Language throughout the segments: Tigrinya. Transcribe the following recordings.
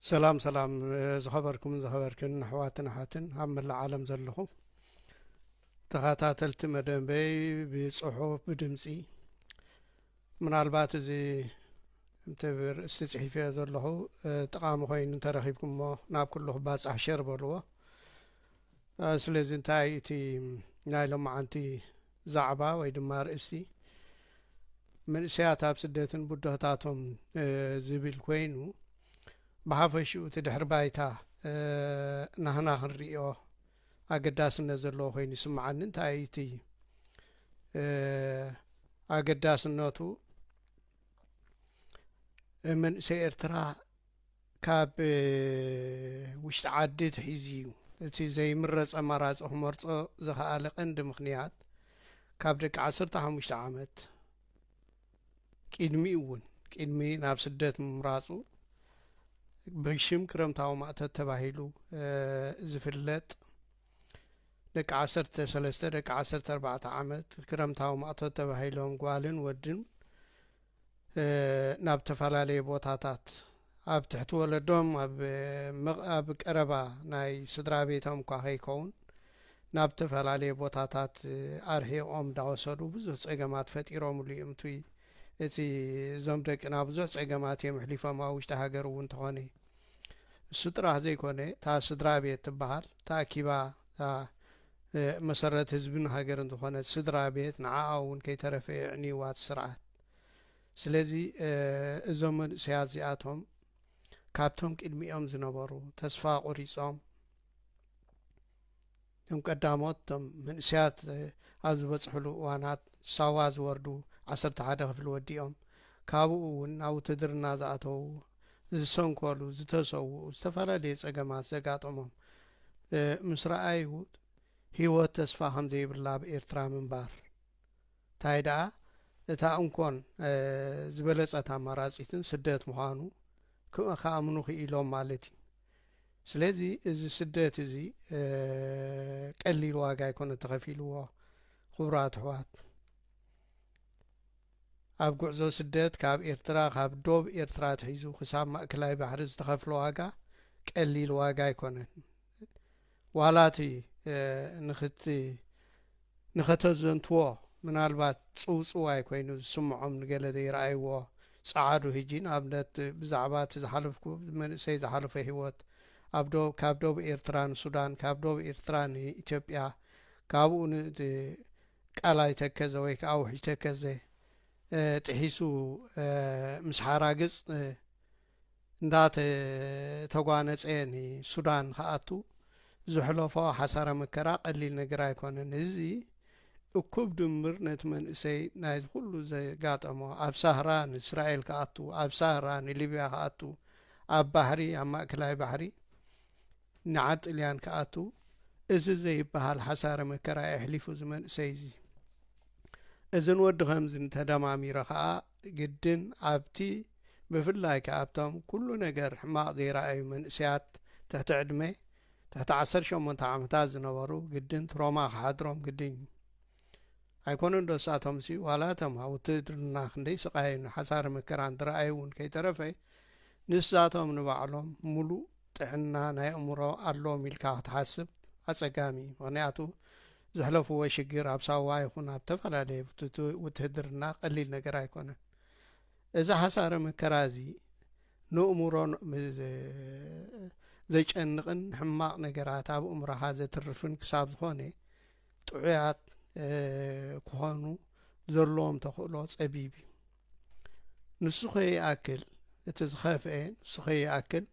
ሰላም ሰላም ዝኸበርኩምን ዝኸበርክን ኣሕዋትን ኣሓትን ኣብ መላእ ዓለም ዘለኹም ተኸታተልቲ መደበይ ብፅሑፍ ብድምፂ ምናልባት እዚ እምቲ ርእስቲ ፅሒፍዮ ዘለኹ ጠቓሚ ኮይኑ እንተረኺብኩምሞ ናብ ኩሉ ክባፃሕ ሸር በልዎ ስለዚ እንታይ እቲ ናይ ሎማዓንቲ ዛዕባ ወይ ድማ ኣርእስቲ መንእሰያት ኣብ ስደትን ብድሆታቶም ዝብል ኮይኑ ብሓፈሽኡ እቲ ድሕሪ ባይታ ናህና ክንርእዮ ኣገዳስነት ዘለዎ ኮይኑ ይስምዓኒ እንታይ እዩ እቲ ኣገዳስነቱ መንእሰይ ኤርትራ ካብ ውሽጢ ዓዲ ትሒዙ እዩ። እቲ ዘይምረፅ ኣማራፂ ክመርፆ ዝኸኣለ ቀንዲ ምኽንያት ካብ ደቂ ዓሰርተ ሓሙሽተ ዓመት ቂድሚ እውን ቂድሚ ናብ ስደት ምምራፁ ብሽም ክረምታዊ ማእቶት ተባሂሉ ዝፍለጥ ደቂ ዓሰርተ ሰለስተ ደቂ ዓሰርተ ኣርባዕተ ዓመት ክረምታዊ ማእቶት ተባሂሎም ጓልን ወድን ናብ ተፈላለየ ቦታታት ኣብ ትሕቲ ወለዶም ኣብ ምቕ ኣብ ቀረባ ናይ ስድራ ቤቶም እኳ ከይከውን ናብ ተፈላለየ ቦታታት ኣርሒቖም ዳወሰዱ ብዙህ ጸገማት ፈጢሮምሉ እዩ እምቱይ እቲ እዞም ደቅና ብዙህ ጸገማት እዮም ኣሕሊፎም ኣብ ውሽጢ ሃገር እውን ተኾነ እሱ ጥራህ ዘይኮነ እታ ስድራ ቤት ትበሃል ተኣኪባ እታ መሰረት ህዝብን ሃገርን ዝኾነት ስድራ ቤት ንዓኣ እውን ከይተረፈ የዕንይዋ እቲ ስርዓት። ስለዚ እዞም መንእሰያት እዚኣቶም ካብቶም ቅድሚኦም ዝነበሩ ተስፋ ቆሪጾም እቶም ቀዳሞት እቶም መንእሰያት ኣብ ዝበጽሕሉ እዋናት ሳዋ ዝወርዱ ዓሰርተ ሓደ ክፍሊ ወዲኦም ካብኡ እውን ናብ ውትድርና ዝኣተዉ ዝሰንከሉ፣ ዝተሰውኡ፣ ዝተፈላለየ ጸገማት ዘጋጠሞም ምስ ረኣዩ ህይወት ተስፋ ከም ዘይብላ ኣብ ኤርትራ ምንባር ታይ ደኣ እታ እንኮን ዝበለጸት ኣማራጺትን ስደት ምዃኑ ክኣምኑ ክኢሎም ማለት እዩ። ስለዚ እዚ ስደት እዚ ቀሊል ዋጋ ኣይኮነ ተኸፊልዎ ክቡራት ኣሕዋት። ኣብ ጉዕዞ ስደት ካብ ኤርትራ ካብ ዶብ ኤርትራ ኣትሒዙ ክሳብ ማእከላይ ባሕሪ ዝተኸፍለ ዋጋ ቀሊል ዋጋ ኣይኮነን ዋላ እቲ ንክቲ ንኸተዘንትዎ ምናልባት ጽውጽዋይ ኮይኑ ዝስምዖም ንገለ ዘይረኣይዎ ጸዓዱ ህጂ ንኣብነት ብዛዕባ እቲ ዝሓለፍኩ መንእሰይ ዝሓለፎ ሂወት ኣብ ዶብ ካብ ዶብ ኤርትራ ንሱዳን ካብ ዶብ ኤርትራ ንኢትዮጵያ ካብኡ ን ቃላይ ተከዘ ወይ ከኣ ውሕጅ ተከዘ ጥሒሱ ምስ ሓራግጽ እንዳተተጓነጸ ንሱዳን ክኣቱ ዘሕለፎ ሓሳረ መከራ ቀሊል ነገር ኣይኮነን። እዚ እኩብ ድምር ነቲ መንእሰይ ናይዚ ኩሉ ዘጋጠሞ ኣብ ሳህራ ንእስራኤል ክኣቱ ኣብ ሳህራ ንሊብያ ክኣቱ ኣብ ባሕሪ ኣብ ማእከላይ ባሕሪ ንዓ ጥልያን ክኣትው እዚ ዘይብሃል ሓሳረ መከራ የሕሊፉ እዚ መንእሰይ እዚ እዝን ወዲ ከምዝን ተደማሚረ ከኣ ግድን ኣብቲ ብፍላይ ከኣ ኣብቶም ኩሉ ነገር ሕማቅ ዘይረኣዩ መንእሰያት ትሕቲ ዕድመ ትሕቲ ዓሰርተ ሸሞንተ ዓመታት ዝነበሩ ግድን ትሮማ ክሓድሮም ግድን እዩ ኣይኮነን ዶ ሳቶምሲ ዋላ እቶም ኣብ ውትድርና ክንደይ ስቃይን ሓሳረ መከራን ዝረኣዩ እውን ከይተረፈ ንሳቶም ንባዕሎም ሙሉእ ጥዕና ናይ ኣእምሮ ኣሎዎም ኢልካ ክትሓስብ ኣጸጋሚ እዩ ምክንያቱ ዘሕለፍዎ ሽግር ኣብ ሳዋ ይኹን ኣብ ተፈላለየ ውትህድርና ቀሊል ነገር ኣይኮነን እዚ ሓሳረ መከራ እዚ ንእምሮ ዘጨንቕን ሕማቕ ነገራት ኣብ እምሮኻ ዘትርፍን ክሳብ ዝኾነ ጥዑያት ክኾኑ ዘለዎም ተኽእሎ ጸቢብ እዩ ንሱ ከይኣክል እቲ ዝኸፍኤ ንሱ ከይኣክል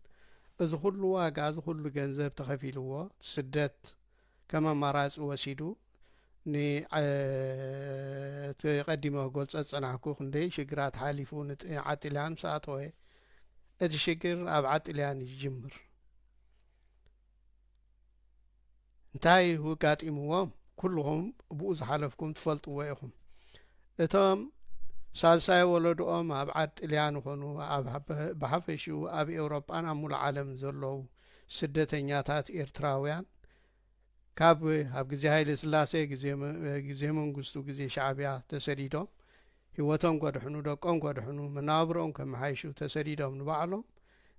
እዚ ኩሉ ዋጋ እዚ ኩሉ ገንዘብ ተኸፊልዎ ስደት ከም ኣማራፂ ወሲዱ እቲ ቀዲመ ክገልፆ ዝፀናሕኩ ክንደይ ሽግራት ሓሊፉ ዓጢልያን ምስ ኣተወ እቲ ሽግር ኣብ ዓጢልያን እዩ ዝጅምር እንታይ ውጋጢምዎም ኩልኹም ብኡ ዝሓለፍኩም ትፈልጥዎ ኢኹም እቶም ሳልሳይ ወለድኦም ኣብ ዓድ ጥልያን ይኾኑ ብሓፈሽኡ ኣብ ኤውሮጳን ኣብ ሙሉ ዓለም ዘለዉ ስደተኛታት ኤርትራውያን ካብ ኣብ ግዜ ሃይለ ስላሴ ግዜ መንግስቱ ግዜ ሻዕብያ ተሰዲዶም ህይወቶም ከድሕኑ፣ ደቆም ከድሕኑ፣ መነባብሮኦም ከመሓይሹ ተሰዲዶም ንባዕሎም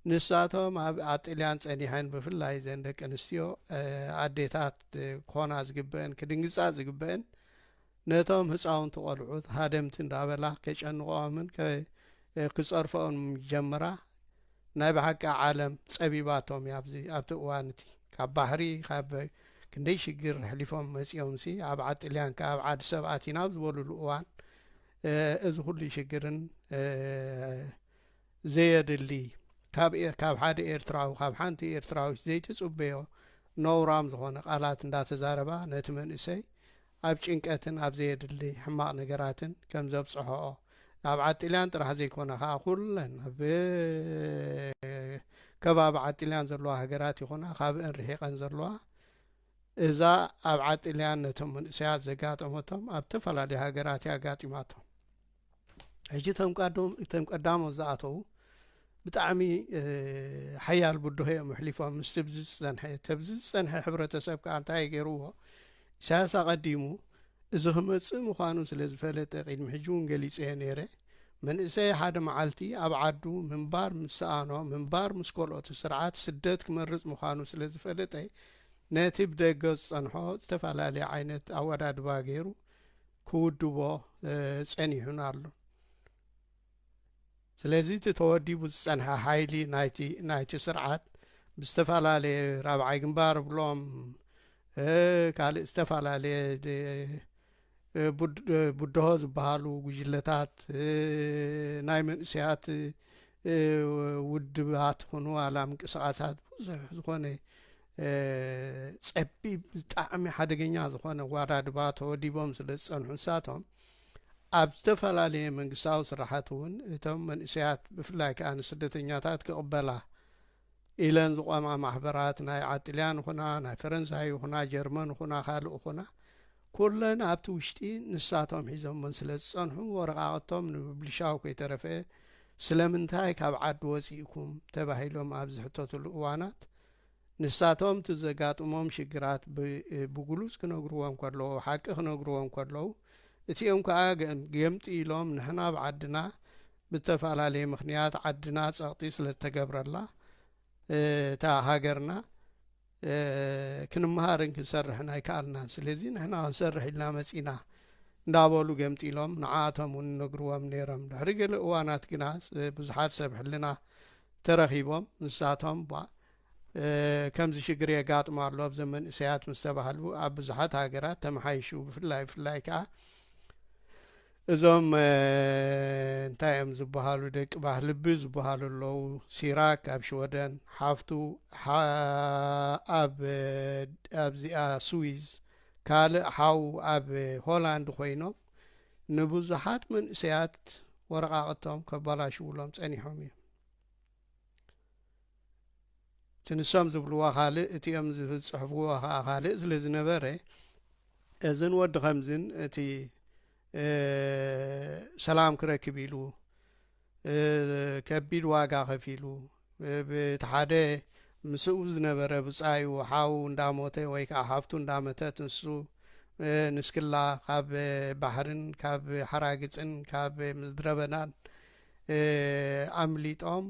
ንሳቶም ኣብ ኣብ ጥልያን ጸኒሐን ብፍላይ እዘን ደቂ ኣንስትዮ ኣዴታት ክኾና ዝግበአን ክድንግጻ ዝግበአን ነቶም ህፃውንቲ ቆልዑት ሃደምቲ እንዳበላ ከጨንቆኦምን ክፀርፈኦን ጀምራ ናይ ብሓቂ ዓለም ጸቢባቶም እያ ኣብዚ ኣብቲ እዋን እቲ ካብ ባሕሪ ካብ ክንደይ ሽግር ኣሕሊፎም መጺኦም ሲ ኣብ ዓድ ጥልያን ከ ኣብ ዓድ ሰብ ኣቲና ኣብ ዝበሉሉ እዋን እዚ ኩሉ ሽግርን ዘየድሊ ካብ ሓደ ኤርትራዊ ካብ ሓንቲ ኤርትራዊት ዘይትጽበዮ ነውራም ዝኾነ ቃላት እንዳተዛረባ ነቲ መንእሰይ ኣብ ጭንቀትን ኣብ ዘየድሊ ሕማቕ ነገራትን ከም ዘብጽሖኦ ኣብ ዓጢልያን ጥራሕ ዘይኮነ ከኣ ኩለን ኣብ ከባቢ ዓጢልያን ዘለዋ ሃገራት ይኹና ካብእን ርሒቐን ዘለዋ እዛ ኣብ ዓጢልያን ነቶም መንእሰያት ዘጋጠመቶም ኣብ እተፈላለዩ ሃገራት እያ ኣጋጢማቶም። ሕጂ እቶም ቃዶም እቶም ቀዳሞት ዝኣተዉ ብጣዕሚ ሓያል ብድሆ እዮም ኣሕሊፎም ምስ ትብዚ ዝፀንሐ ተብዚ ዝፀንሐ ሕብረተሰብ ከዓ እንታይ ገይርዎ ኢሳያስ ኣቐዲሙ እዚ ክመፅእ ምዃኑ ስለ ዝፈለጠ ቅድሚ ሕጂ እውን ገሊፀ እየ ነይረ መንእሰይ ሓደ መዓልቲ ኣብ ዓዱ ምንባር ምስ ሰኣኖ ምንባር ምስ ኮልኦት ስርዓት ስደት ክመርፅ ምዃኑ ስለ ዝፈለጠ ነቲ ብደገ ዝፀንሖ ዝተፈላለየ ዓይነት ኣወዳድባ ገይሩ ክውድቦ ጸኒሑን ኣሉን ስለዚ እቲ ተወዲቡ ዝጸንሐ ሓይሊ ናይቲ ስርዓት ብዝተፈላለየ ራብዓይ ግንባር ብሎም ካልእ ዝተፈላለየ ቡድሆ ዝበሃሉ ጉጅለታት ናይ መንእሰያት ውድባት ኹኑ ኣላ ምንቅስቃሳት ብዙሕ ዝኾነ ጸቢብ ብጣዕሚ ሓደገኛ ዝኾነ ዋራድባ ተወዲቦም ስለ ዝጸንሑ ንሳቶም ኣብ ዝተፈላለየ መንግስታዊ ስራሓት እውን እቶም መንእሰያት ብፍላይ ከዓ ንስደተኛታት ክቕበላ ኢለን ዝቋማ ማሕበራት ናይ ዓጥልያን ኹና ናይ ፈረንሳይ ኹና ጀርመን ኹና ካልእ ኹና ኩለን ኣብቲ ውሽጢ ንሳቶም ሒዞመን ስለ ዝጸንሑ ወረቃቕቶም ንምብልሻው ከይተረፈ ስለምንታይ ካብ ዓዲ ወፂእኩም ተባሂሎም ኣብ ዝሕተትሉ እዋናት ንሳቶም እቲ ዘጋጥሞም ሽግራት ብግሉጽ ክነግርዎ እንከለዉ፣ ሓቂ ክነግርዎ እንከለዉ፣ እቲኦም ከኣ ገምጢ ኢሎም ንሕና ኣብ ዓድና ብእተፈላለየ ምኽንያት ዓድና ጸቕጢ ስለ እተገብረላ እታ ሃገርና ክንመሃርን ክንሰርሕን ኣይከኣልናን ስለዚ ንሕና ክንሰርሕ ኢልና መጺና እንዳበሉ ገምጢሎም ንዓኣቶም እውን ነግርዎም ነይሮም ድሕሪ ገለ እዋናት ግና ብዙሓት ሰብ ሕልና ተረኺቦም ንሳቶም እባ ከምዚ ሽግር የጋጥሞ ኣሎ ኣብዘም መንእሰያት ምስ ተባህሉ ኣብ ብዙሓት ሃገራት ተመሓይሹ ብፍላይ ብፍላይ ከኣ እዞም እንታይ እዮም ዝበሃሉ ደቂ ባህልቢ ዝበሃሉ ኣለዉ ሲራክ ኣብ ሽወደን ሓፍቱ ኣብዚኣ ስዊዝ ካልእ ሓው ኣብ ሆላንድ ኮይኖም ንብዙሓት መንእሰያት ወረቓቕቶም ከባላሽውሎም ጸኒሖም እዮም እቲ ንሶም ዝብልዎ ካልእ እቲኦም ዝጽሕፍዎ ከዓ ካልእ ስለ ዝነበረ እዝን ወዲ ከምዝን እቲ ሰላም ክረክብ ኢሉ ከቢድ ዋጋ ከፊሉ ብቲ ሓደ ምስኡ ዝነበረ ብጻዩ ሓው እንዳሞተ ወይ ከኣ ሓብቱ እንዳመተት ንሱ ንስክላ ካብ ባሕርን ካብ ሓራግጽን ካብ ምድረበናን ኣምሊጦም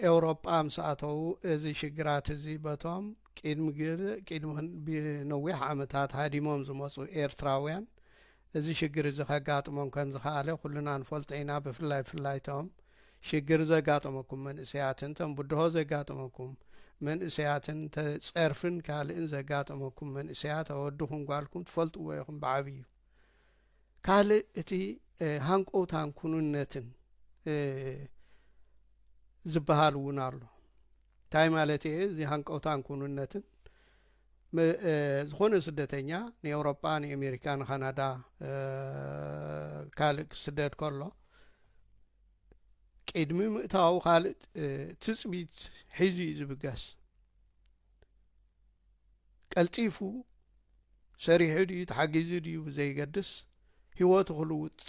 ኤውሮጳ ምስ ኣተዉ እዚ ሽግራት እዚ በቶም ቅድሚ ነዊሕ ዓመታት ሃዲሞም ዝመጹ ኤርትራውያን እዚ ሽግር እዚ ከጋጥሞም ከም ዝኸኣለ ኩልና ንፈልጦ ኢና፣ ብፍላይ ብፍላይ እቶም ሽግር ዘጋጠመኩም መንእሰያትን እቶም ብድሆ ዘጋጠመኩም መንእሰያትን እተ ጸርፍን ካልእን ዘጋጠመኩም መንእሰያት ኣወድኹም ጓልኩም ትፈልጥዎ ኢኹም ብዓብዩ ካልእ እቲ ሃንቆውታን ኩኑነትን ዝበሃል እውን ኣሎ እንታይ ማለት እየ እዚ ሃንቀውታን ኩኑነትን ም ዝኾነ ስደተኛ ንኤውሮጳ ንኤሜሪካ ንካናዳ ካልእ ክስደድ ከሎ ቅድሚ ምእታዊ ካልእ ትጽቢት ሒዙ እዩ ዝብገስ ቀልጢፉ ሰሪሑ ድዩ ተሓጊዙ ድዩ ብዘይገድስ ህይወቱ ክልውጥ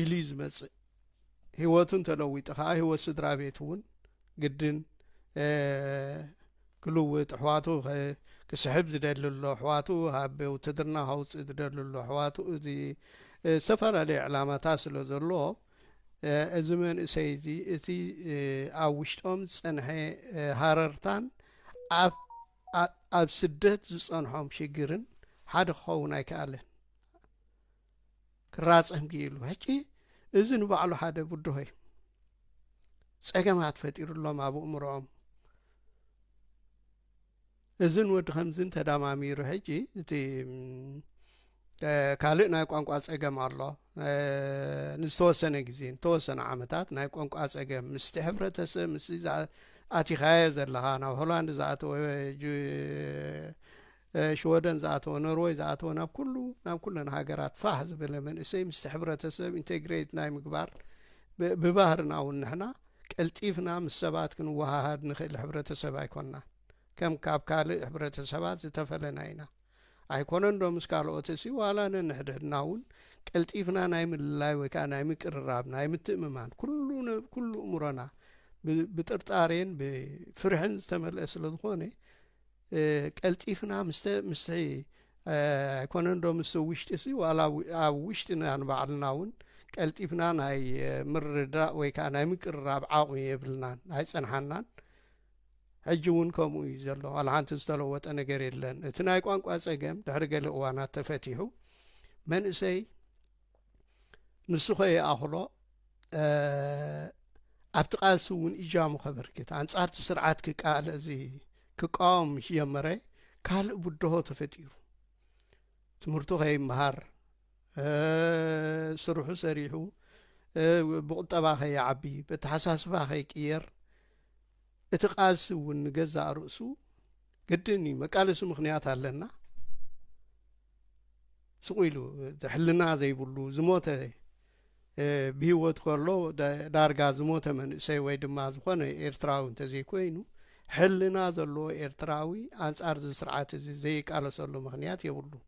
ኢሉ እዩ ዝመጽእ ሂወቱ እንተለዊጡ ከኣ ሂወት ስድራ ቤቱ ውን ግድን ክልውጥ ኣሕዋቱ ክስሕብ ዝደሊ ኣሎ ኣሕዋቱ ሃብ ውትድርና ከውፅእ ዝደሊ ኣሎ ኣሕዋቱ እዚ ዝተፈላለየ ዕላማታት ስለ ዘሎ እዚ መንእሰይ እዚ እቲ ኣብ ውሽጦም ዝፀንሐ ሃረርታን ኣብ ስደት ዝፀንሖም ሽግርን ሓደ ክኸውን ኣይከኣለን ክራጸም ክኢሉ ሕጂ እዚ ንባዕሉ ሓደ ብድሆ እዩ ጸገማት ፈጢሩሎም ኣብ እእምሮኦም እዝን ወዲ ከምዝን ተዳማሚሩ ሕጂ እቲ ካልእ ናይ ቋንቋ ጸገም ኣሎ ንዝተወሰነ ግዜ ንተወሰነ ዓመታት ናይ ቋንቋ ጸገም ምስቲ ሕብረተሰብ ምስ ኣቲኻዮ ዘለኻ ናብ ሆላንድ ዝኣተወ ሽወደን ዝኣተወ ኖርወይ ዝኣተወ ናብ ኩሉ ናብ ኩለን ሃገራት ፋህ ዝበለ መንእሰይ ምስቲ ሕብረተሰብ ኢንቴግሬት ናይ ምግባር ብባህርና እውን ንሕና ቀልጢፍና ምስ ሰባት ክንወሃሃድ ንኽእል ሕብረተሰብ ኣይኮንናን ከም ካብ ካልእ ሕብረተሰባት ዝተፈለና ኢና ኣይኮነን ዶ ምስ ካልኦት እሲ ዋላ ነንሕድሕድና እውን ቀልጢፍና ናይ ምልላይ ወይ ከዓ ናይ ምቅርራብ ናይ ምትእምማን ኩሉ ኩሉ እምሮና ብጥርጣሬን ብፍርሕን ዝተመልአ ስለ ዝኾነ ቀልጢፍና ምስ ኣይኮነን ዶ ምስ ውሽጢ ሲ ዋላ ኣብ ውሽጢና ንባዕልና እውን ቀልጢፍና ናይ ምርዳእ ወይ ከዓ ናይ ምቅርራብ ዓቕሚ የብልናን ኣይፀንሓናን ሕጂ እውን ከምኡ እዩ ዘሎ ዋላ ሓንቲ ዝተለወጠ ነገር የለን እቲ ናይ ቋንቋ ፀገም ድሕሪ ገለ እዋናት ተፈቲሑ መንእሰይ ንሱ ከይኣኽሎ ኣብቲ ቃልሲ እውን እጃሙ ከበርክት ኣንጻርቲ ስርዓት ክቃል እዚ ክቃወም ምስ ጀመረ ካልእ ብድሆ ተፈጢሩ ትምህርቱ ከይምሃር ስርሑ ሰሪሑ ብቁጠባ ከይዓቢ በተሓሳስባ ከይቅየር እቲ ቃልሲ እውን ንገዛእ ርእሱ ግድን እዩ መቃለሲ ምክንያት ኣለና ስቁ ኢሉ ሕልና ዘይብሉ ዝሞተ ብሂወት ከሎ ዳርጋ ዝሞተ መንእሰይ ወይ ድማ ዝኾነ ኤርትራዊ እንተዘይኮይኑ ሕልና ዘለዎ ኤርትራዊ ኣንጻር እዚ ስርዓት እዚ ዘይቃለሰሉ ምክንያት የብሉን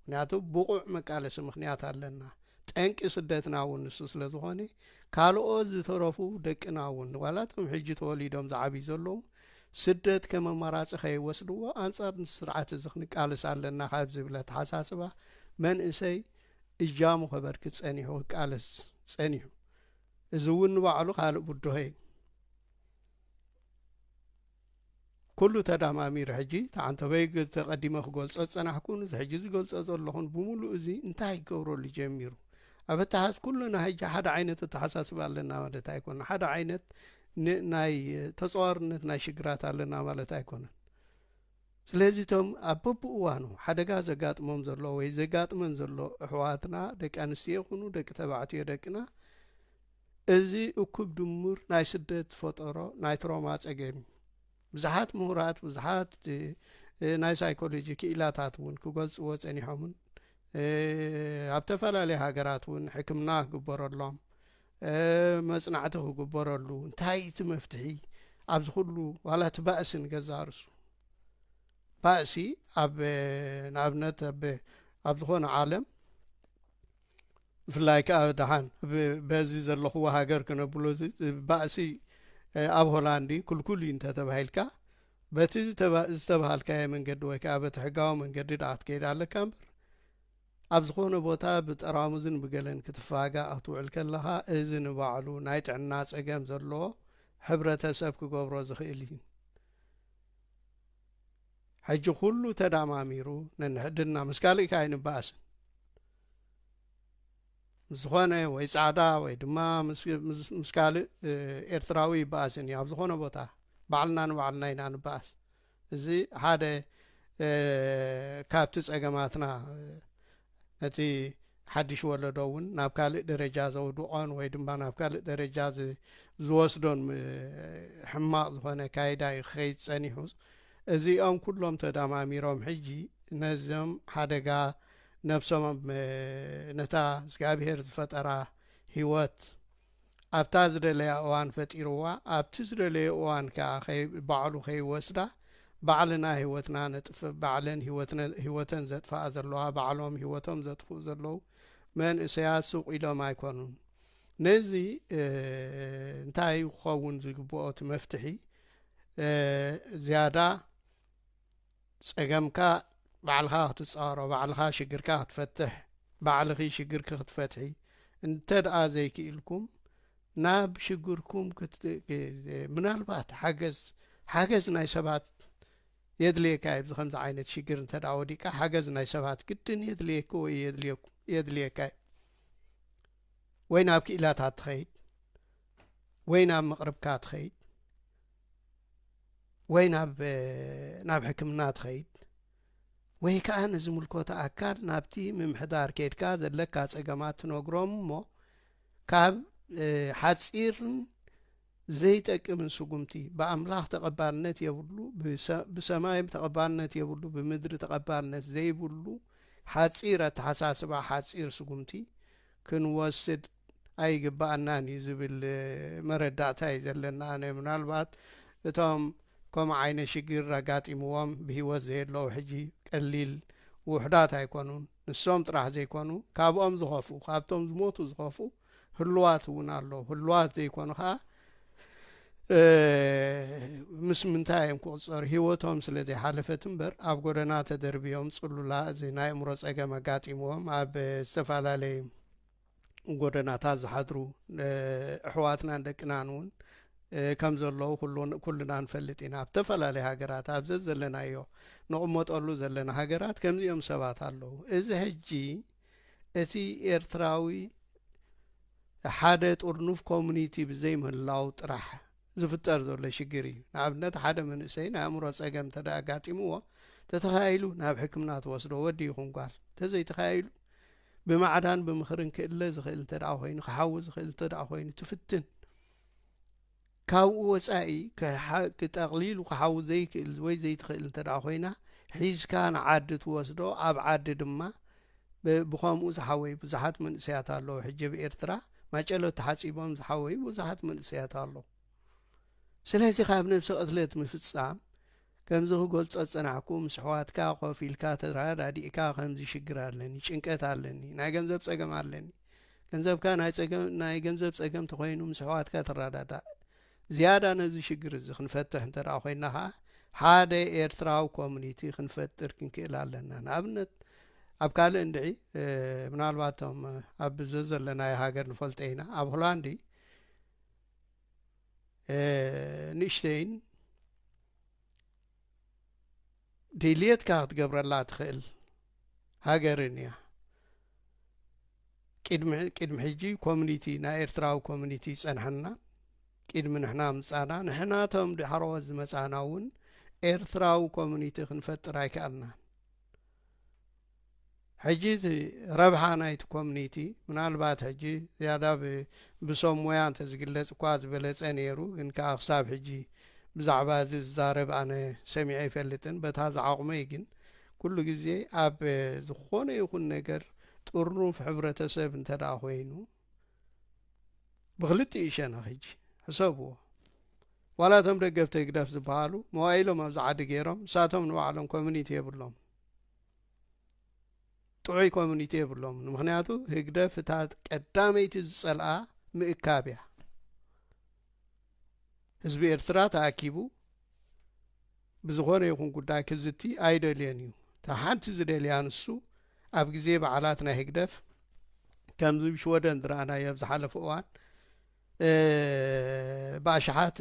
ምክንያቱ ብቑዕ መቃለሲ ምክንያት ኣለና ጠንቂ ስደትና እውን ንሱ ስለ ዝኾነ ካልኦት ዝተረፉ ደቅና እውን ዋላቶም ሕጂ ተወሊዶም ዝዓብዩ ዘለዉ ስደት ከም ኣማራጺ ከይወስድዎ ኣንጻር እዚ ስርዓት እዚ ክንቃለስ ኣለና ካብ ዝብል ኣተሓሳስባ መንእሰይ እጃሙ ከበርክት ጸኒሑ ክቃለስ ጸኒሑ። እዚ እውን ንባዕሉ ካልእ ብድሆ እዩ። ኩሉ ተዳማሚሩ ሕጂ ተዓንተበይ ተቐዲመ ክገልጾ ዝጸናሕኩን እዚ ሕጂ ዝገልጾ ዘለኹን ብምሉእ እዚ እንታይ ይገብረሉ ጀሚሩ ኣብ ኣተሓስ ኩሉና ሕጂ ሓደ ዓይነት ኣተሓሳስባ ኣለና ማለት ኣይኮነ ሓደ ዓይነት ን ናይ ተጸዋርነት ናይ ሽግራት ኣለና ማለት ኣይኮነን። ስለዚ እቶም ኣብ በብእዋኑ ሓደጋ ዘጋጥሞም ዘሎ ወይ ዘጋጥመን ዘሎ ኣሕዋትና ደቂ ኣንስትዮ ይኹኑ ደቂ ተባዕትዮ ደቅና እዚ እኩብ ድሙር ናይ ስደት ዝፈጠሮ ናይ ትሮማ ጸገም እዩ። ብዙሓት ምሁራት ብዙሓት ናይ ሳይኮሎጂ ክኢላታት እውን ክገልጽዎ ጸኒሖምን ኣብ ተፈላለየ ሃገራት እውን ሕክምና ክግበረሎም መጽናዕቲ ክግበረሉ እንታይ እቲ መፍትሒ ኣብዚ ኩሉ ዋላ እቲ ባእሲ ንገዛ ርሱ ባእሲ ኣብ ንኣብነት ኣብ ዝኾነ ዓለም ብፍላይ ከዓ ድሓን በዚ ዘለኹዎ ሃገር ክነብሎ ባእሲ ኣብ ሆላንዲ ክልኩል እዩ እንተተባሂልካ በቲ ዝተባሃልካዮ መንገዲ ወይ ከዓ በቲ ሕጋዊ መንገዲ ድኣ ክትከይድ ኣለካ እምበር ኣብ ዝኾነ ቦታ ብጠራሙዝን ብገለን ክትፋጋእ ክትውዕል ከለኻ እዚ ንባዕሉ ናይ ጥዕና ጸገም ዘለዎ ሕብረተሰብ ክገብሮ ዝኽእል እዩ። ሕጂ ኩሉ ተዳማሚሩ ነንሕድና ምስ ካልእ ከ ኣይንባኣስን ምስ ዝኾነ ወይ ጻዕዳ ወይ ድማ ምስ ካልእ ኤርትራዊ ይባኣስን እዩ ኣብ ዝኾነ ቦታ ባዕልና ንባዕልና ኢና ንባኣስ እዚ ሓደ ካብቲ ጸገማትና ነቲ ሓድሽ ወለዶ እውን ናብ ካልእ ደረጃ ዘውድቖን ወይ ድማ ናብ ካልእ ደረጃ ዝወስዶን ሕማቕ ዝኾነ ካይዳ እዩ ክኸይድ ጸኒሑ እዚኦም ኩሎም ተዳማሚሮም ሕጂ ነዞም ሓደጋ ነብሶም ነታ እግዚኣብሄር ዝፈጠራ ህይወት ኣብታ ዝደለያ እዋን ፈጢርዋ ኣብቲ ዝደለዮ እዋን ከኣ ባዕሉ ከይወስዳ ባዕልና ሂወትና ነጥፍእ ባዕለን ሂወተን ዘጥፍኣ ዘለዋ ባዕሎም ሂወቶም ዘጥፍኡ ዘለዉ መንእሰያት ሱቅ ኢሎም ኣይኮኑን ነዚ እንታይ ክኸውን ዝግብኦ እቲ መፍትሒ ዝያዳ ጸገምካ ባዕልኻ ክትጻሮ ባዕልኻ ሽግርካ ክትፈትሕ ባዕልኺ ሽግርኪ ክትፈትሒ እንተድኣ ዘይክኢልኩም ናብ ሽግርኩም ምናልባት ሓገዝ ሓገዝ ናይ ሰባት የድልየካ እዩ ከምዚ ዓይነት ሽግር እንተድኣ ወዲቃ ሓገዝ ናይ ሰባት ግድን የድልየኪ ወይ የድልየካ እዩ ወይ ናብ ክኢላታት ትኸይድ ወይ ናብ መቕርብካ ትኸይድ ወይ ናብ ሕክምና ትኸይድ ወይ ከዓ ንዝምልኮተ ኣካል ናብቲ ምምሕዳር ኬድካ ዘለካ ፀገማት ትነግሮም እሞ ካብ ሓፂርን ዘይጠቅምን ስጉምቲ ብኣምላኽ ተቐባልነት የብሉ ብሰማይ ተቐባልነት የብሉ ብምድሪ ተቐባልነት ዘይብሉ ሓፂር ኣተሓሳስባ ሓፂር ስጉምቲ ክንወስድ ኣይግበኣናን እዩ ዝብል መረዳእታ እዩ ዘለኒ ኣነ ምናልባት እቶም ከምኡ ዓይነት ሽግር ኣጋጢምዎም ብሂወት ዘየለዉ ሕጂ ቀሊል ውሑዳት ኣይኮኑን ንሶም ጥራሕ ዘይኮኑ ካብኦም ዝኸፍኡ ካብቶም ዝሞቱ ዝኸፍኡ ህልዋት እውን ኣለዉ ህልዋት ዘይኮኑ ከዓ ምስ ምንታይ እዮም ክቕፀሩ ሂወቶም ስለ ዘይሓለፈት እምበር ኣብ ጎደና ተደርብዮም ፅሉላ እዚ ናይ እምሮ ፀገም ኣጋጢምዎም ኣብ ዝተፈላለዩ ጎደናታት ዝሓድሩ ኣሕዋትናን ደቅናን እውን ከም ዘለዉ ኩልና ንፈልጥ ኢና ኣብ ተፈላለየ ሃገራት ኣብ ዘዘለናዮ ንቕመጠሉ ዘለና ሃገራት ከምዚኦም ሰባት ኣለዉ እዚ ሕጂ እቲ ኤርትራዊ ሓደ ጥርኑፍ ኮሚኒቲ ብዘይምህላው ጥራሕ ዝፍጠር ዘሎ ሽግር እዩ ንኣብነት ሓደ መንእሰይ ናይ ኣእምሮ ጸገም እንተ ኣጋጢምዎ ተተኻይሉ ናብ ሕክምና ትወስዶ ወዲ ይኹን ጓል ተዘይተኻይሉ ብማዕዳን ብምኽርን ክእለ ዝኽእል እንተ ደኣ ኮይኑ ክሓዊ ዝኽእል እንተ ደኣ ኮይኑ ትፍትን ካብኡ ወጻኢ ጠቕሊሉ ክሓዊ ዘይክእል ወይ ዘይትኽእል እንተ ደኣ ኮይና ሒዝካ ንዓዲ ትወስዶ ኣብ ዓዲ ድማ ብከምኡ ዝሓወይ ብዙሓት መንእሰያት ኣለዉ ሕጂ ብ ኤርትራ ማጨሎ ተሓጺቦም ዝሓወይ ብዙሓት መንእሰያት ኣለዉ ስለዚ ካብ ነብሲ ቅትለት ምፍጻም ከምዚ ክገልጾ ዝጸናሕኩ ምስ ኣሕዋትካ ኮፍ ኢልካ ተራዳዲእካ ከምዚ ሽግር ኣለኒ ጭንቀት ኣለኒ ናይ ገንዘብ ጸገም ኣለኒ ገንዘብካ ናይ ጸገም ናይ ገንዘብ ጸገም ተኾይኑ ምስ ኣሕዋትካ ተራዳዳእ ዝያዳ ነዚ ሽግር እዚ ክንፈትሕ እንተ ኮይና ከኣ ሓደ ኤርትራዊ ኮሚኒቲ ክንፈጥር ክንክእል ኣለና ንኣብነት ኣብ ካልእ እንድዒ ምናልባቶም ኣብ ዘዘለናዮ ሃገር ንፈልጦ ኢና ኣብ ሆላንዲ ንእሽተይን ድልየትካ ክትገብረላ ትኽእል ሃገርን እያ ቅድሚ ቅድሚ ሕጂ ኮሚኒቲ ናይ ኤርትራዊ ኮሚኒቲ ይጸንሐና ቅድሚ ንሕና ምጻና ንሕናቶም ድሓሮዎት ዝመጻና እውን ኤርትራዊ ኮሚኒቲ ክንፈጥር ኣይከኣልና ሕጂ እቲ ረብሓ ናይቲ ኮምኒቲ ምናልባት ሕጂ ዝያዳ ብ ብሰብ ሞያ እንተ ዝግለጽ እኳ ዝበለጸ ነይሩ ግን ከኣ ክሳብ ሕጂ ብዛዕባ እዚ ዝዛረብ ኣነ ሰሚዐ ኣይፈልጥን በታ ዝዓቕመይ ግን ኩሉ ግዜ ኣብ ዝኾነ ይኹን ነገር ጥርኑፍ ሕብረተሰብ እንተ ደኣ ኮይኑ ብክልቲኡ ሸነኽ ሕጂ ሕሰብዎ ዋላ እቶም ደገፍቲ ህግደፍ ዝበሃሉ መዋኢሎም ኣብዚ ዓዲ ገይሮም ንሳቶም ንባዕሎም ኮምኒቲ የብሎምን ጥዑይ ኮሚኒቲ የብሎም ንምክንያቱ ህግደፍ እታ ቀዳመይቲ ዝጸልኣ ምእካብ እያ ህዝቢ ኤርትራ ተኣኪቡ ብዝኾነ ይኹን ጉዳይ ክዝቲ ኣይደልዮን እዩ እታ ሓንቲ ዝደልያ ንሱ ኣብ ግዜ በዓላት ናይ ህግደፍ ከምዚ ሽወደን ዝረኣናዮ ኣብ ዝሓለፈ እዋን ብኣሽሓት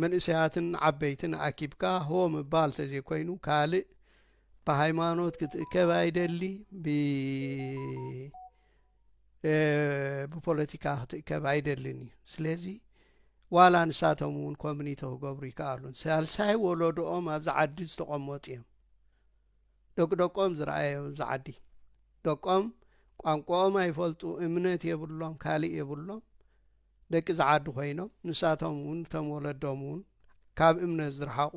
መንእሰያትን ዓበይትን ኣኪብካ ሆ ምባል ተዘይኮይኑ ካልእ ብሃይማኖት ክትእከብ ኣይደሊ ብፖለቲካ ክትእከብ ኣይደልን እዩ ስለዚ ዋላ ንሳቶም እውን ኮሚኒቲ ክገብሩ ይከኣሉን ሳልሳይ ወለዶኦም ኣብዚ ዓዲ ዝተቐመጡ እዮም ደቂ ደቆም ዝረኣየ ኣብዚ ዓዲ ደቆም ቋንቆኦም ኣይፈልጡ እምነት የብሎም ካልእ የብሎም ደቂ እዚ ዓዲ ኮይኖም ንሳቶም እውን እቶም ወለዶም እውን ካብ እምነት ዝረሓቑ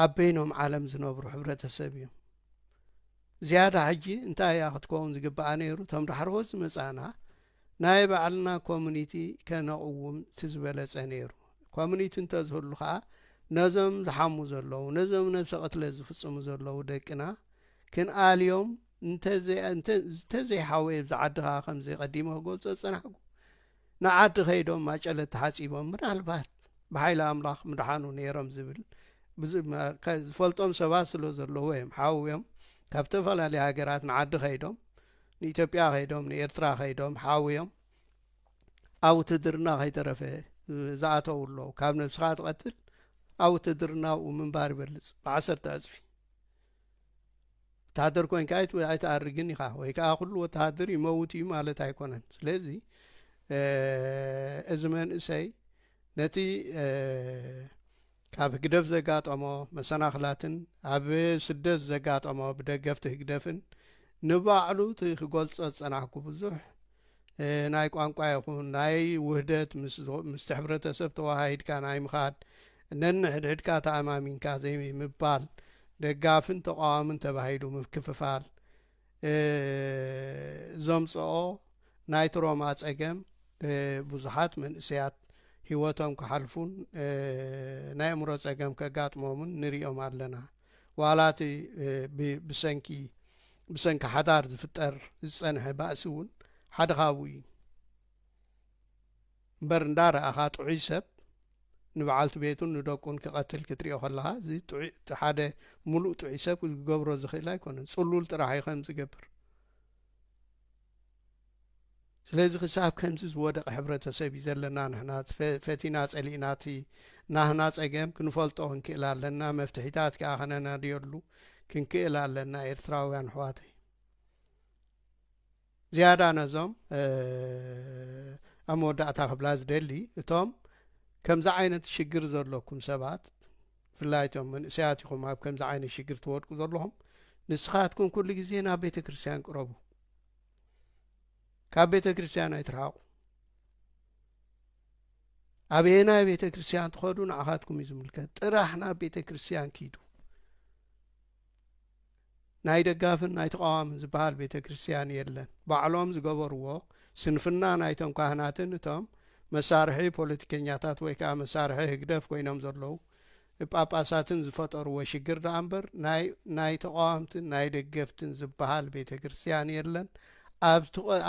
ኣብ በይኖም ዓለም ዝነብሩ ሕብረተሰብ እዮም ዝያዳ ሕጂ እንታይ እያ ክትከውን ዝግባኣ ነይሩ እቶም ዳሕረዎት ዝመጻእና ናይ ባዕልና ኮሙኒቲ ከነቕውም እቲ ዝበለጸ ነይሩ። ኮሙኒቲ እንተዝህሉ ከኣ ነዞም ዝሓሙ ዘለዉ፣ ነዞም ነብሰ ቅትለት ዝፍጽሙ ዘለዉ ደቅና ክንኣልዮም እንተዘይሓወየ ኣብዛ ዓዲ ከኣ ከምዚ ቀዲመ ክገልጾ ዝጸናሕኩ ንዓዲ ከይዶም ማጨለት ተሓጺቦም ምናልባት ብሓይሊ ኣምላኽ ምድሓኑ ነይሮም ዝብል ዝፈልጦም ሰባት ስለ ዘለዉ እዮም ሓውዮም ካብ ዝተፈላለየ ሃገራት ንዓዲ ከይዶም ንኢትዮጵያ ከይዶም ንኤርትራ ከይዶም ሓውዮም ኣብ ውትህድርና ከይተረፈ ዝኣተው ኣለው ካብ ነብስኻ ትቐትል ኣብ ውትህድርና ኣብኡ ምንባር ይበልጽ ብዓሰርተ ዕጽፊ ወተሃደር ኮንካ ኣይትኣርግን ኢኻ ወይ ከዓ ኩሉ ወተሃደር ይመውት እዩ ማለት ኣይኮነን ስለዚ እዚ መንእሰይ ነቲ ካብ ህግደፍ ዘጋጠሞ መሰናኽላትን ኣብ ስደት ዘጋጠሞ ብደገፍቲ ህግደፍን ንባዕሉ እቲ ክገልጾ ዝጸናሕኩ ብዙሕ ናይ ቋንቋ ይኹን ናይ ውህደት ምስቲ ሕብረተሰብ ተወሃሂድካ ናይ ምኻድ ነንሕድሕድካ ተኣማሚንካ ዘይምባል ደጋፍን ተቓዋምን ተባሂሉ ምክፍፋል ዘምጽኦ ናይ ትሮማ ጸገም ብዙሓት መንእሰያት ህይወቶም ክሓልፉን ናይ እምሮ ጸገም ከጋጥሞምን ንሪኦም ኣለና ዋላ እቲ ብሰንኪ ብሰንኪ ሓዳር ዝፍጠር ዝጸንሐ ባእሲ እውን ሓደ ካብኡ እዩ እምበር እንዳ ረኣኻ ጥዑይ ሰብ ንብዓልቲ ቤቱን ንደቁን ክቀትል ክትሪኦ ከለኻ እዚ ጥዑይ እቲ ሓደ ሙሉእ ጥዑይ ሰብ ክገብሮ ዝኽእል ኣይኮነን ጽሉል ጥራሕ እዩ ከምዚ ዝገብር ስለዚ ክሳብ ከምዚ ዝወደቀ ሕብረተሰብ እዩ ዘለና ንሕና ፈቲና ጸሊእና እቲ ናህና ጸገም ክንፈልጦ ክንክእል ኣለና መፍትሒታት ከዓ ከነናድየሉ ክንክእል ኣለና ኤርትራውያን ኣሕዋተይ ዝያዳ ነዞም ኣብ መወዳእታ ክብላ ዝደሊ እቶም ከምዚ ዓይነት ሽግር ዘሎኩም ሰባት ብፍላይ እቶም መንእሰያት ኢኹም ኣብ ከምዚ ዓይነት ሽግር ትወድቁ ዘለኹም ንስኻትኩም ኩሉ ግዜ ናብ ቤተ ክርስትያን ቅረቡ ካብ ቤተ ክርስትያን ኣይትርሃቑ ኣበየናይ ቤተ ክርስትያን ትኸዱ ንዓኻትኩም እዩ ዝምልከት ጥራሕ ናብ ቤተ ክርስትያን ኪዱ ናይ ደጋፍን ናይ ተቓዋምን ዝበሃል ቤተ ክርስቲያን የለን ባዕሎም ዝገበርዎ ስንፍና ናይቶም ካህናትን እቶም መሳርሒ ፖለቲከኛታት ወይ ከኣ መሳርሒ ህግደፍ ኮይኖም ዘለዉ ጳጳሳትን ዝፈጠርዎ ሽግር ደኣ እምበር ናይ ናይ ተቓዋምትን ናይ ደገፍትን ዝበሃል ቤተ ክርስቲያን የለን ኣብ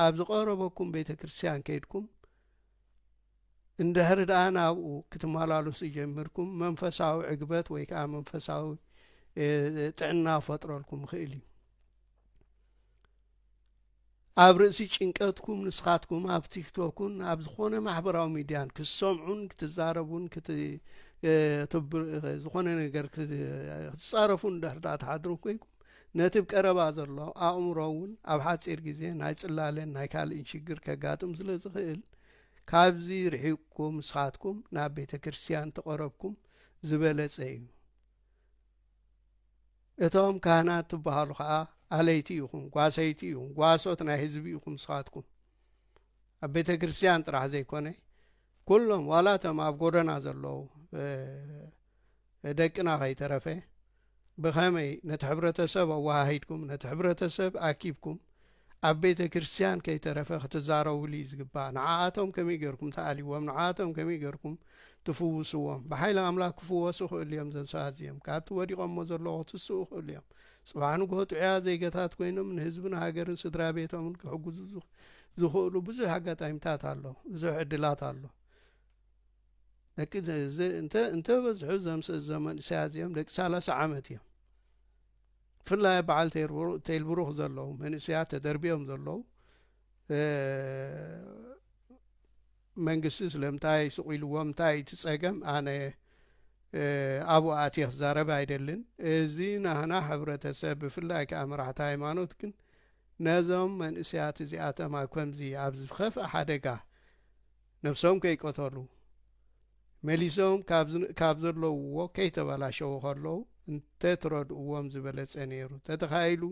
ኣብ ዝቐረበኩም ቤተ ክርስቲያን ከይድኩም እንድሕሪ ደኣ ናብኡ ክትመላሉሱ ጀሚርኩም መንፈሳዊ ዕግበት ወይ ከዓ መንፈሳዊ ጥዕና ፈጥረልኩም ይኽእል እዩ ኣብ ርእሲ ጭንቀትኩም ንስኻትኩም ኣብ ቲክቶክን ኣብ ዝኾነ ማሕበራዊ ሚድያን ክትሰምዑን ክትዛረቡን ዝኾነ ነገር ክትፃረፉን ድሕርዳ ትሓድሩ ኮይንኩም ነቲ ብ ቀረባ ዘሎ ኣእምሮ እውን ኣብ ሓጺር ግዜ ናይ ጽላለን ናይ ካልእን ሽግር ከጋጥም ስለ ዝኽእል ካብዚ ርሒቕኩም ንስኻትኩም ናብ ቤተ ክርስቲያን ተቐረብኩም ዝበለጸ እዩ። እቶም ካህናት ትበሃሉ ከኣ ኣለይቲ ኢኹም፣ ጓሰይቲ ኢኹም፣ ጓሶት ናይ ህዝቢ ኢኹም ንስኻትኩም። ኣብ ቤተ ክርስቲያን ጥራሕ ዘይኮነ ኩሎም ዋላ እቶም ኣብ ጎደና ዘለዉ ደቅና ከይተረፈ ብኸመይ ነቲ ሕብረተሰብ ኣወሃሂድኩም ነቲ ሕብረተሰብ ኣኪብኩም ኣብ ቤተ ክርስቲያን ከይተረፈ ክትዛረቡሉ እዩ ዝግባእ ንዓኣቶም ከመይ ገርኩም ትኣልይዎም ንዓኣቶም ከመይ ገርኩም ትፍውስዎም ብሓይሊ ኣምላክ ክፍወሱ ክእሉ እዮም ዘም ሰባት እዚኦም ካብቲ ወዲቆሞ ዘለዎ ክትስኡ ክእሉ እዮም ጽባሕ ንግሆ ጥዑያ ዜጋታት ኮይኖም ንህዝብን ሃገርን ስድራ ቤቶምን ክሕግዙ ዝኽእሉ ብዙሕ ኣጋጣሚታት ኣሎ ብዙሕ ዕድላት ኣሎ ደቂ እንተ በዝሑ ዘምስእዞም መንእሰያት እዚኦም ደቂ ሰላሳ ዓመት እዮም ብፍላይ በዓል ተይልብሩኽ ዘለዉ መንእሰያት ተደርቢዮም ዘለዉ መንግስቲ ስለምንታይ ስቑኢልዎም እንታይ እቲ ጸገም ኣነ ኣብኡ ኣትየ ክዛረብ ኣይደልን እዚ ናህና ሕብረተሰብ ብፍላይ ከዓ መራሕቲ ሃይማኖት ግን ነዞም መንእሰያት እዚኣቶም ኣብ ከምዚ ኣብ ዝኸፍእ ሓደጋ ነብሶም ከይቀተሉ፣ መሊሶም ካብ ዘለውዎ ከይተበላሸዉ ከለዉ እንተትረድእዎም ዝበለጸ ነይሩ። ተተኻኢሉ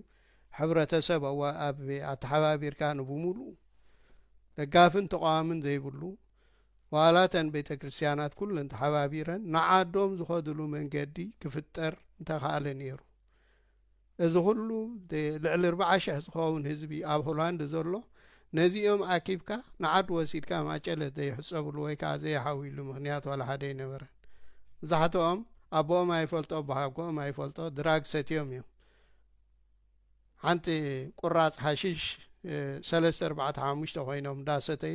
ሕብረተሰብ ኣወኣኣብ ኣተሓባቢርካ ንብምሉኡ ደጋፍን ተቓዋምን ዘይብሉ ዋላ እተን ቤተክርስትያናት ኩለን ተሓባቢረን ንዓዶም ዝኸድሉ መንገዲ ክፍጠር ምተኻእለ ነይሩ። እዚ ኩሉ ልዕሊ ርብዓ ሽሕ ዝኸውን ህዝቢ ኣብ ሆላንድ ዘሎ ነዚኦም ኣኪብካ ንዓዱ ወሲድካ ማጨለት ዘይሕጸብሉ ወይ ከኣ ዘይሓውይሉ ምክንያት ዋላ ሓደ ኣይነበረን። መብዛሕትኦም ኣቦኦም ኣይፈልጦ ኣቦሓጎኦም ኣይፈልጦ ድራግ ሰትዮም እዮም። ሓንቲ ቁራጽ ሓሽሽ ሰለስተ ኣርባዕተ ሓሙሽተ ኮይኖም እንዳሰተዩ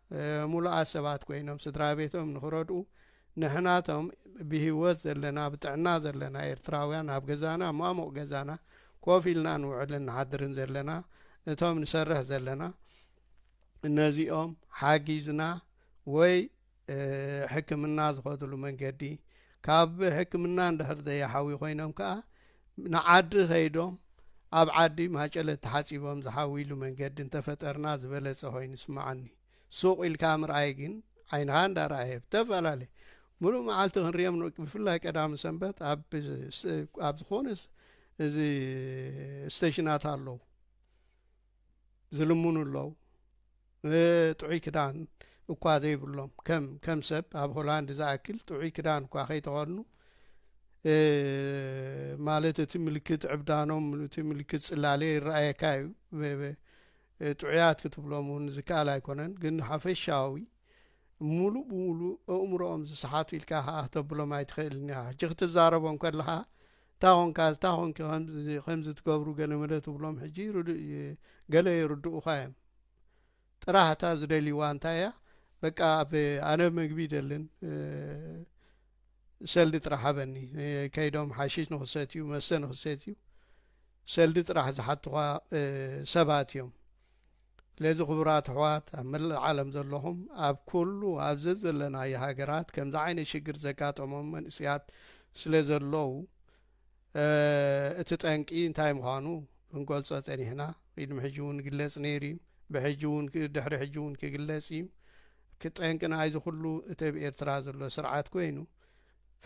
ምሉኣት ሰባት ኮይኖም ስድራ ቤቶም ንኽረድኡ ንሕና እቶም ብሂወት ዘለና ብጥዕና ዘለና ኤርትራውያን ኣብ ገዛና ማሙቕ ገዛና ኮፍ ኢልና ንውዕልን ንሓድርን ዘለና እቶም ንሰርሕ ዘለና ነዚኦም ሓጊዝና ወይ ሕክምና ዝኸድሉ መንገዲ ካብ ሕክምና እንድሕር ዘይሓውዩ ኮይኖም ከኣ ንዓዲ ከይዶም ኣብ ዓዲ ማጨለት ተሓጺቦም ዝሓውይሉ መንገዲ እንተፈጠርና ዝበለጸ ኮይኑ ይስመዓኒ። ሱቕ ኢልካ ምርኣይ ግን ዓይንኻ እንዳረኣየ ብተፈላለየ ምሉእ መዓልቲ ክንሪኦም ን ብፍላይ ቀዳም ሰንበት ኣብ ኣብ ዝኾነ እዚ ስተሽናት ኣለዉ። ዝልምኑ ኣለው ጥዑይ ክዳን እኳ ዘይብሎም ከም ከም ሰብ ኣብ ሆላንድ ዝኣክል ጥዑይ ክዳን እኳ ከይተኸድኑ ማለት እቲ ምልክት ዕብዳኖም እቲ ምልክት ጽላሌ ይረኣየካ እዩ ጥዑያት ክትብሎም እውን ዝከኣል ኣይኮነን ግን ሓፈሻዊ ሙሉእ ብሙሉእ ኣእምሮኦም ዝሰሓቱ ኢልካ ከዓ ክተብሎም ኣይትኽእልን ኢኻ ሕጂ ክትዛረቦም ከለኻ እታ ኮንካ እታ ኮንኪ ከምዚ ከምዚ ትገብሩ ገለመለ ትብሎም ሕጂ ርዱእ ገለ ይርድኡኻ እዮም ጥራህ እታ ዝደልይዋ እንታይ እያ በቃ ኣብ ኣነ መግቢ ይደልን ሰልዲ ጥራሕ ሃበኒ ከይዶም ሓሺሽ ንክሰትዩ መስተ ንክሰትዩ ሰልዲ ጥራሕ ዝሓትኻ ሰባት እዮም ስለዚ ክቡራት ኣሕዋት ኣብ መላእ ዓለም ዘለኹም ኣብ ኩሉ ኣብ ዘዘለናዮ ሃገራት ከምዚ ዓይነት ሽግር ዘጋጠሞም መንእስያት ስለ ዘለዉ እቲ ጠንቂ እንታይ ምዃኑ ክንገልጾ ጸኒሕና ቅድሚ ሕጂ እውን ግለጽ ነይሩ እዩ ብሕጂ እውን ድሕሪ ሕጂ እውን ክግለጽ እዩ ክጠንቂ ናይዚ ኩሉ እቲ ኣብ ኤርትራ ዘሎ ስርዓት ኮይኑ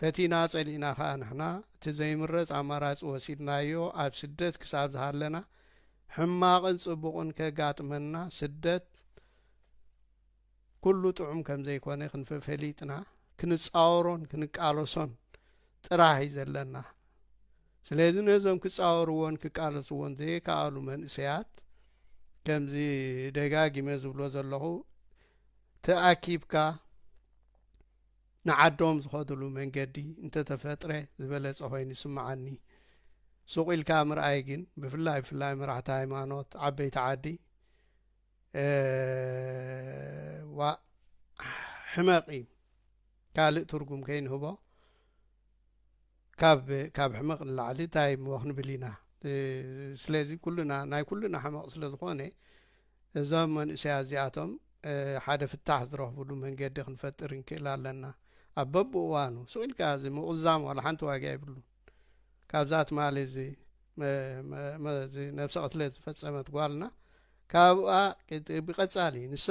ፈቲና ጸሊእና ከኣ ንሕና እቲ ዘይምረጽ ኣማራጺ ወሲድናዮ ኣብ ስደት ክሳብ ዝሃለና ሕማቕን ጽቡቕን ከጋጥመና ስደት ኩሉ ጥዑም ከም ዘይኮነ ክንፈፈሊጥና ክንጻወሮን ክንቃለሶን ጥራህ እዩ ዘለና ስለዚ ነዞም ክጻወርዎን ክቃለስዎን ዘይከኣሉ መንእሰያት ከምዚ ደጋጊመ ዝብሎ ዘለኹ ተኣኪብካ ንዓዶም ዝኸድሉ መንገዲ እንተተፈጥረ ዝበለጸ ኮይኑ ይስምዓኒ። ሱቕ ኢልካ ምርኣይ ግን ብፍላይ ብፍላይ መራሕቲ ሃይማኖት ዓበይቲ ዓዲ ዋእ ሕመቕ እዩ ካልእ ትርጉም ከይንህቦ። ካብ ካብ ሕመቕ ንላዕሊ ታይ እሞ ክንብል ኢና ስለዚ ኩልና ናይ ኩልና ሕመቕ ስለ ዝኾነ እዞም መንእሰያት እዚኣቶም ሓደ ፍታሕ ዝረኽብሉ መንገዲ ክንፈጥር ንክእል ኣለና ኣብ በብእዋኑ ሱቕ ኢልካ እዚ ምቑዛም ዋላ ሓንቲ ዋጋ የብሉን ካብዛ ትማሊ እዚ ነብሰ ቅትለት ዝፈጸመት ጓልና ካብኣ ብቀጻሊ ንሳ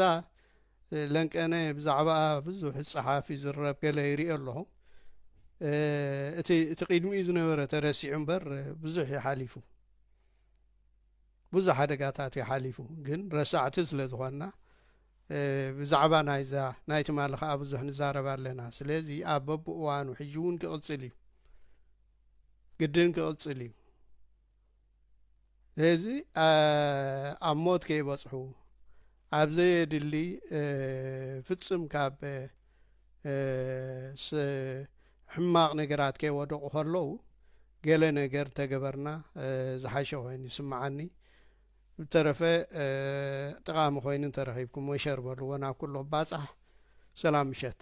ለንቀነ ብዛዕባኣ ብዙሕ ይጸሓፍ ይዝረብ ገለ ይርኢ ኣለኹ እቲ እቲ ቅድሚኡ ዝነበረ ተረሲዑ እምበር ብዙሕ እዩ ሓሊፉ ብዙሕ ሓደጋታት እዩ ሓሊፉ ግን ረሳዕቲ ስለ ዝኾንና ብዛዕባ ናይዛ ናይ ትማሊ ከዓ ብዙሕ ንዛረብ ኣለና ስለዚ ኣብ በብእዋኑ ሕጂ እውን ክቕፅል እዩ ግድን ክቕፅል እዩ ስለዚ ኣብ ሞት ከይበጽሑ ኣብ ዘየድሊ ፍጽም ካብ ሕማቕ ነገራት ከይወደቑ ከለዉ ገለ ነገር ተገበርና ዝሓሸ ኮይኑ ይስምዓኒ ብተረፈ ጠቓሚ ኮይኑ እንተረኺብኩሞ ሸር በልዎ ናብ ኩሎም ባጻሕ ሰላም ምሸት